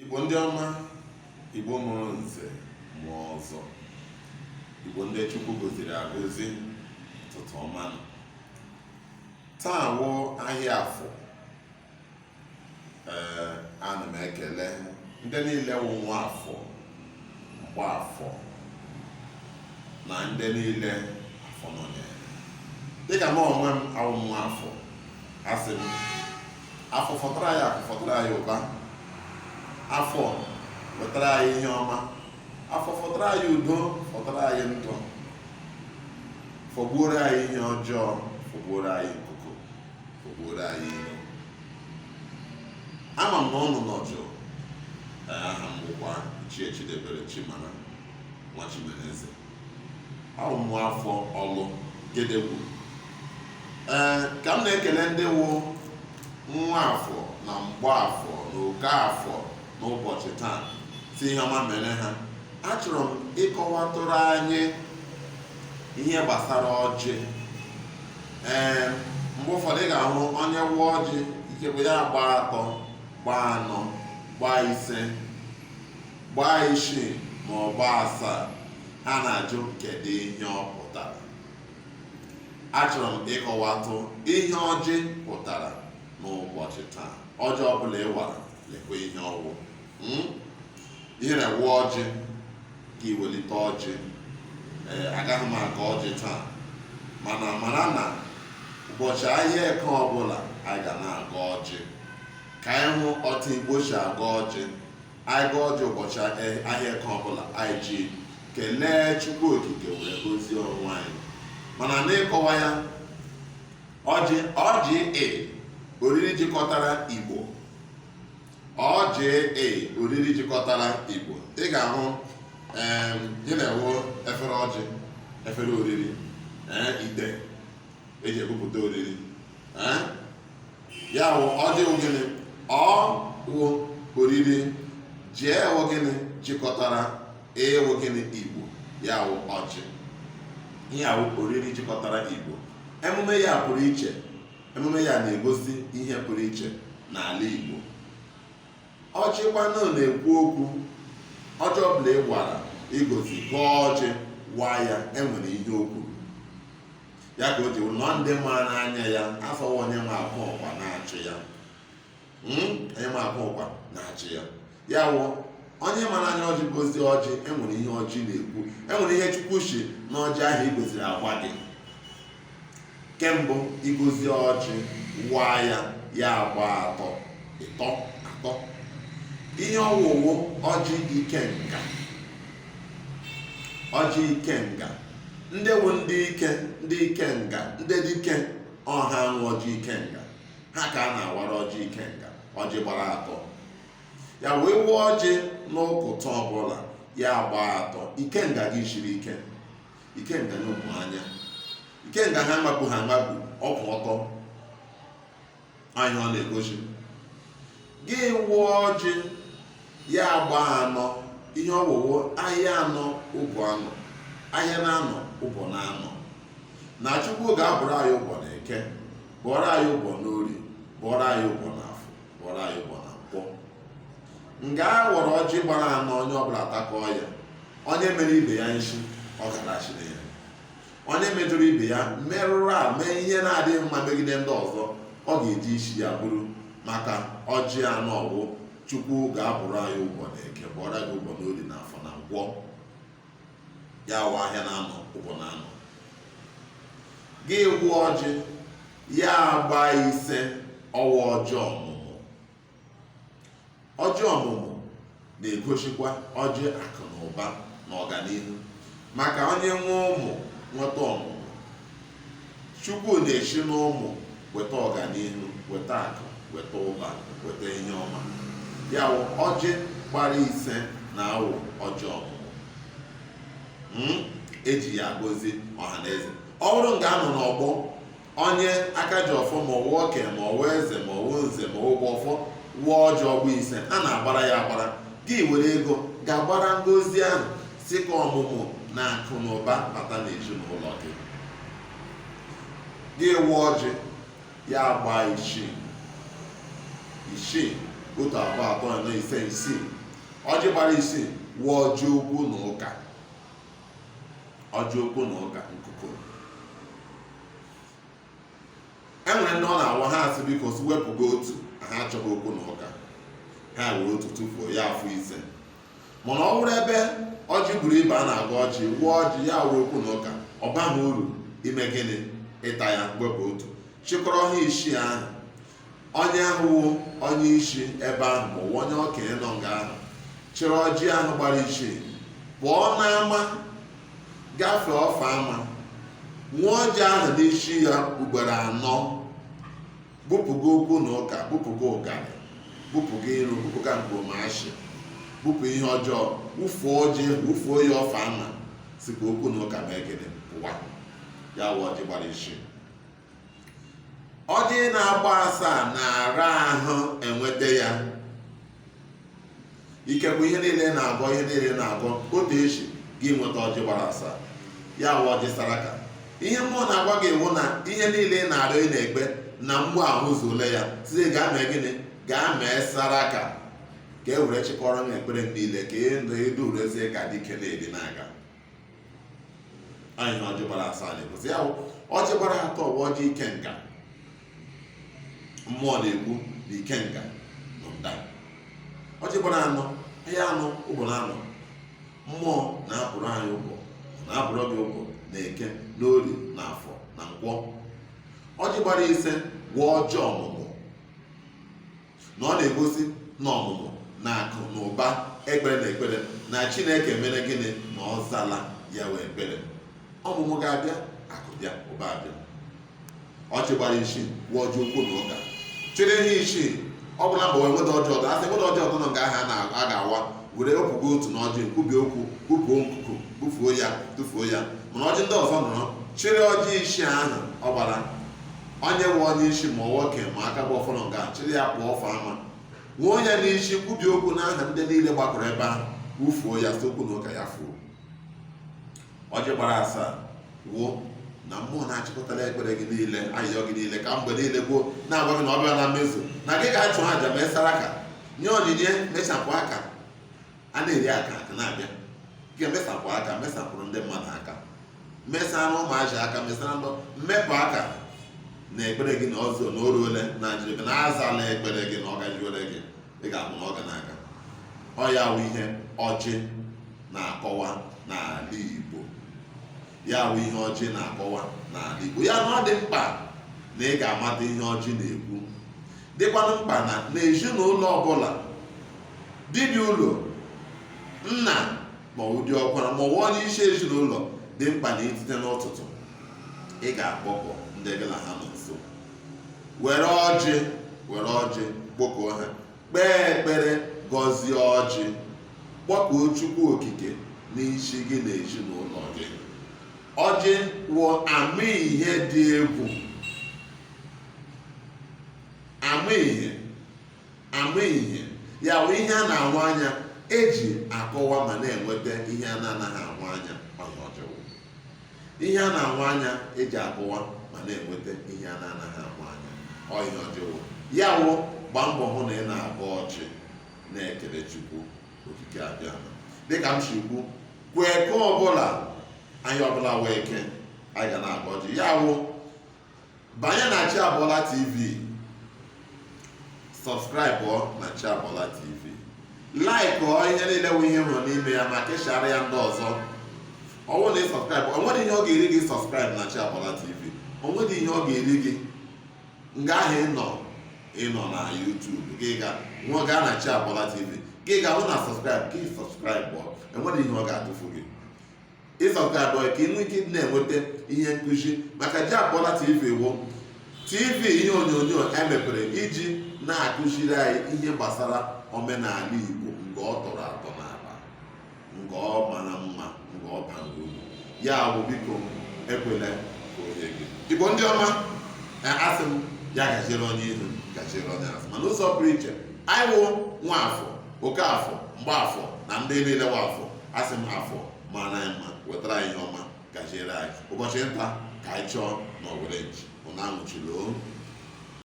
Igbo ndị ọma, Igbo mụrụ nze mụọ ọzọ, Igbo ndị Chukwu goziri agozi ụtụtụ ọma nụ. Taa wụ ahịa afọ. Ee, ana m ekele ndị niile wụ nwa afọ, mgba afọ na ndị niile afọ nọnyere. Dịka m onwe m awụ nwa afọ, asị m afọ fọtara anyị akụ fọtara anyị ụba afọ wetara anyị ihe ọma afọ fọtara anyị udo fọtara anyị ndụ fọgbuoro anyị ihe ọjọọ fọgbuoro anyị nkuku fọgbuoro anyị iro ama m na ụnụ nọ jụụ aha m bụkwa Ichie Chidebere Chimara nwa Chimereze awụ m nwa afọ ọlụ gedegwu ee ka m na-ekele ndị wụ nwa afọ na mgbaafọ na oke afọ n'ụbọchị taa sị ihe ọma mere ha achọrọ m ịkọwatụrụ anyị ihe gbasara ọjị ee mgbe ụfọdụ ị ga-ahụ onye waa ọjị ikekwe ya gbaa atọ gbaa anọ gbaa ise gbaa isii ma ọ gbaa asaa ha na-ajụ kedu ihe ọ pụtara achọrọ m ịkọwatụ ihe ọjị pụtara n'ụbọchị taa ọjị ọbụla ị wara lekwa ihe ọ wụ hmm? ihe na-ewe ọjị ka iwelite ọjị ee agaghị m agọ ọjị taa mana mara na ụbọchị ahịa eke ọbụla anyị ga na-agọ ọjị ka anyị hụ otu igbo si agọ ọjị anyị gọọ ọjị ụbọchị ahịa eke ọbụla anyị ji kelee chukwu okike were gozie onwe anyị mana n'ịkọwa ya ọjị ọjị e oriri jikọtara igbo ọjị e oriri jikọtara igbo ị ga-ahụzi na ọ wụ efere ọjị efere oriri ite eji ebupụta oriri ya wụ ọjị wụ gịnị O wụ oriri J wụ gịnị jikọtara I wụ gịnị igbo ya wụ ọjị ihe a wụ oriri jikọtara igbo emume ya pụrụ iche emume ya na-egosi ihe pụrụ iche n'ala igbo ọjị kwanụ na-ekwu okwu ọjị ọbụla ị wara igosi gọọ ọjị waa ya enwere ihe o kwuru ya ka o ji nọ ndị mara anya ya a sị ọ wụ onye ma akwa ọkwa na-achị ya hmm? onye ma akwa ọkwa na-achị ya ya wụ onye mara anya ọjị gozie ọjị enwere ihe ọjị na-ekwu enwere ihe chukwu si n'ọjị ahụ i goziri agwa gị ke mbụ i gozie ọjị waa ya ya agba atọ ịtọ atọ ihe ọ wụ wụ ọjị ikenga ọjị ikenga ndị wụ ndị ike ndị ikenga ndị dike ọ ha nwe ọjị ikenga ha ka a na-awara ọjị ikenga ọjị gbara atọ ya wụ ị waa ọjị n'ụkụtụ ọbụla ya gbaa atọ ikenga gị shiri ike ikenga n'ụmụ anya ikenga ha mabụ ha mabụ ọ kwụ ọtọ anyị ọ na-egosi gị waa ọjị ya agba anọ ihe ọ wụ wụ ahịa anọ ụbọ anọ ahịa na anọ ụbọ na anọ na chukwu ga-abụrụ anyị ụbọ na eke bụọrọ anyị ụbọ na orie bụọrọ anyị ụbọ na afọ bụọrọ anyị ụbọ na nkwọ nga a wara ọjị gbara anọ onye ọbụla atakọọ ya onye mere ibe ya nshi ọ garachi na ya onye mejọrọ ibe ya merụrụ a mee ihe na-adịghị mma megide ndị ọzọ ọ ga-eji isi ya buru maka ọjị anọ ọ wụ chukwu ga-abụrụ anyị ụbọ na eke bụọrọ gị ụbọ n'orie na afọ na nkwọ ya wụ ahịa na anọ ụbọ na anọ gị waa ọjị ya agba ise ọ wụ ọjị ọmụmụ ọjị ọmụmụ na-egosikwa ọjị akụ na ụba na ọganihu maka onye nwee ụmụ nweta ọmụmụ chukwu na-esi n'ụmụ weta ọganihu weta akụ weta ụba weta ihe ọma ya wụ ọjị gbara ise na-awụ ọjị ọmụmụ Hmm? eji ya agozi ọha na eze ọ bụrụ nga a nọ n'ọgbọ onye aka ji ọfọ ma ọ wụ oke ma ọ wụ eze ma ọ wụ nze ma ọ wụ ọfọ waa ọjị ọ gbaa ise a na-agbara ya agbara gị were ego gaa gbara ngozi ahụ sị ka ọmụmụ na akụ na ụba bata n'ezinụlọ gị gị waa ọjị ya gbaa isii isii otu abụọ atọ anọ ise isii ọjị gbara isii wụ ọjị okwu na ụka ọjị okwu na ụka nkuko e nwere ndị ọ na-awụ ha asị biko si wepụgo otu ha achọghị okwu na ụka ha were otu tufuo ya afọ ise mana ọ bụrụ ebe ọjị buru ibe a na-agwa gị waa ọjị ya wụrụ okwu na ụka ọ baghị uru ime gịnị ịta ya wepụ otu chịkọrọ ha isii ahụ onye ahụ wụ onye isi ebe ahụ ma ọ wụ onye okenye nọ nga ahụ chịrị ọjị ahụ gbara isii pụọ n'ama gafee ofe ama wee ọjị ahụ n'isi ya ugboro anọ bupụga okwu na ụka bupụga ụgarị bupụga iro bupụga mkpọmashị bupụ ihe ọjọọ wụfuo ọjị wụfuo ya ofe ama sị ka okwu na ụka mee gịnị pụwa ya wụ ọjị gbara isii ọjị na-agba asaa na-ara ahụ enweta ya ikekwe ihe niile na-agọ ihe niile na-agọ otu echi gị nweta ọjị gbara asaa ya wụ ọjị saraka ihe mmụọ na-agwa gị wụ na ihe niile ị na-arịọ ị na-ekpe na mgbe ahụ zuole ya sị gaa mee gịnị gaa mee saraka ka e were chịkọrọ m ekpere niile ka ị ndụ ịdụ urezie ka dike na-edi na-aga anyị na ọjị gbara asaa na-egosi ya ọjị gbara atọ wụ ọjị ikenga mmụọ na-ekwu na ikenga nọ nda ọjị gbara anọ ahịa anọ ụbọ na anọ mmụọ na-abụrụ anyị ụbọ na-abụrụ gị ụbọ na eke na orie na afọ na nkwọ ọjị gbara ise wụ ọjị ọmụmụ na ọ na-egosi na ọmụmụ na akụ na ụba ekpere na ekpere na chineke mere gịnị na ọ zala ya wụ ekpere ọmụmụ ga-abịa akụ bịa ụba abịa ọjị gbara isii wụ ọjị okwu na ụka chere ihe isii ọ bụla mgbe wee weta ọjị ọdọ a sị weta ọjị ọdọ nọ nga ahụ a na- a ga-awa were wepụgo otu na ọjị kwubie okwu kwupuo nkuku bufuo ya tụfuo ya mana ọjị ndị ọzọ nọrọ chịrị ọjị isii ahụ ọ gbara onye wụ onye isi ma nwoke ma aka bu ọfọ nọ nga chịrị ya pụọ ofe ama wee onye n'isi kwubie okwu n'aha ndị niile gbakọrọ ebe ahụ wufuo ya sị okwu na ụka ya fuo ọjị gbara asaa wụ na mmụọ na-achịkọtara ekpere gị niile ayịyọ gị niile kemgbe niile gboo na-agwa gị na ọ bịana mmezu na gị ga-achụ aja mee saraka nye onyinye mechapụ aka a na-eri aka aka na-abịa gị mesapụ aka mesapụrụ ndị mmadụ aka mesara ụmụazị aka mesara ndị mmepụ aka na ekpere gị na ọ zuona o ruole na njiribe na azala ekpere gị na ọ gajiwere gị ị ga-ahụ na ọ ga na-aga ọ ya wụ ihe ọjị na-akọwa n'ala Igbo ya wụ ihe ọjị na-akọwa n'ala Igbo ya na ọ dị mkpa na ị ga-amata ihe ọjị na-ekwu dịkwanụ mkpa na n'ezinụlọ ọbụla dibiụlọ nna ma ọ wụ diọkwara ma ọ wụ onye isi ezinụlọ dị mkpa na i tete n'ụtụtụ ị ga-akpọkọ ndị gị na ha nọ nso were ọjị were ọjị kpọkọọ ha kpee ekpere gọzie ọjị kpọkuo chukwu okike n'isi gị na ezinụlọ gị ọjị wụ ama ihe dị egwu ama ihe ama ihe ya wụ ihe a na-ahụ anya eji akọwa ma na-enweta ihe a na-anaghị ahụ anya ihe a na-ahụ anya eji akọwa ma na-enweta ihe a na-anaghị ahụ anya ọ ihe ọjị wụ ya wụ gbaa mbọ hụ na ị na-agọ ọjị na-ekele chukwu okike abịa dịka m si kwu kwa eke ọbụla ahịa ọbụla wụ eke anyị ga na-agọ ọjị ya wụ banye na Chiabola TV sọbskraịbụ na Chiabola TV laikụọ ihe niile wụ ihe ị hụrụ n'ime ya ma keshara ya ndị ọzọ ọ wụ na ị sọbskraịbụ onwere ihe ọ ga-eri gị sọbskraịbụ na Chiabola TV onwere ihe ọ ga-eri gị nga ahụ ịnọ ịnọ na YouTube gị gaa na Chiabola TV gị ga-ahụ na sọbskraịbụ gị sọbskraịbụ onwere ihe ọ ga-atụfu gị ị sọbskraịbụọ ka ị nwee ike ịdị na-enweta ihe nkụzi maka Chiabola tv wụ tv ihe onyonyo emepere iji na-akụziri anyị ihe gbasara omenala igbo nke ọ tọrọ atọ n'ala nke ọ mara mma nke ọ bara uru ya bụ biko ekwela ka onye gị igbo ndị ọma asị m ya gaziere onye ihu gaziere onye azụ ma n'ụzọ pụrụ iche anyị wụ nwafọ okafọ mgbeafọ na ndị niile nwa afọ asị m afọ mara anyị mma wetara anyị ihe ọma gaziere anyị ụbọchị nta ka anyị chụọ na owere nchi ụnụ anwụchula o